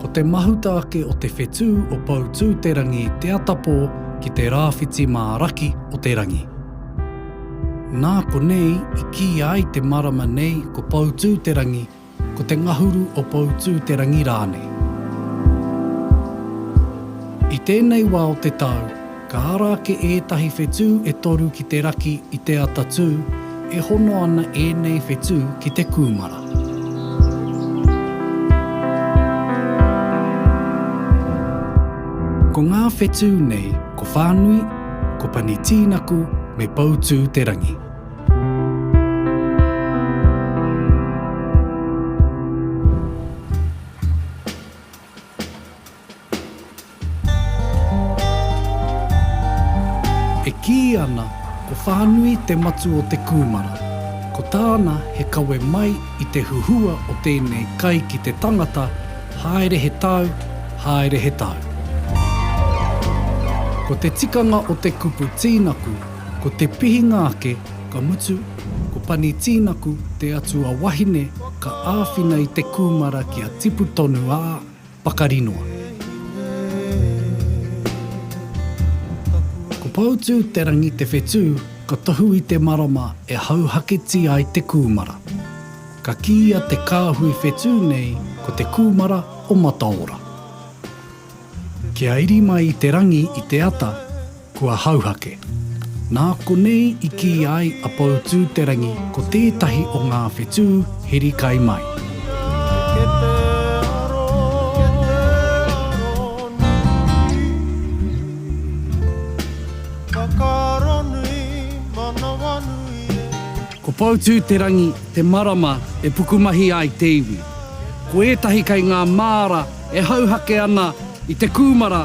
Ko te mahuta ake o te whetū o Poutū-te-rangi te atapō ki te rāwhiti mā raki o te rangi. Nā konei i kīia ai te marama nei ko Poutū-te-rangi, ko te ngahuru o Poutū-te-rangi rānei. I tēnei wā o te tau, Ka ara ake ētahi whetū e toru ki te raki i te ata tū, e hono ana ēnei whetū ki te kūmara. Ko ngā whetū nei ko Whānui, ko Pani Tīnaku me Poutū Te Rangi. E kī ana ko Whānui te matu o te kūmara, ko tāna he kawe mai i te huhua o tēnei kai ki te tangata haere he tau, haere he tau. Ko te tikanga o te kupu tīnaku ko te pihinga ake ka mutu ko Pani Tīnaku te atua wahine ka āwhina i te kūmara kia tipu tonu ā, pakari noa. Ko Poutū-te-rangi te whetū ka tohu i te marama e hauhaketi ai te kūmara. Ka kīia te kāhui whetū nei ko te kūmara o Mataora. Kia iri mai i te rangi i te ata, Kua hauhake. Nā konei i kī ai a Poutū-te-rangi ko tētahi o ngā whetū heri kai mai. Ko Poutū-te-rangi te marama e pukumahi ai te iwi. Ko ētahi kei ngā māra e hauhake ana i te kūmara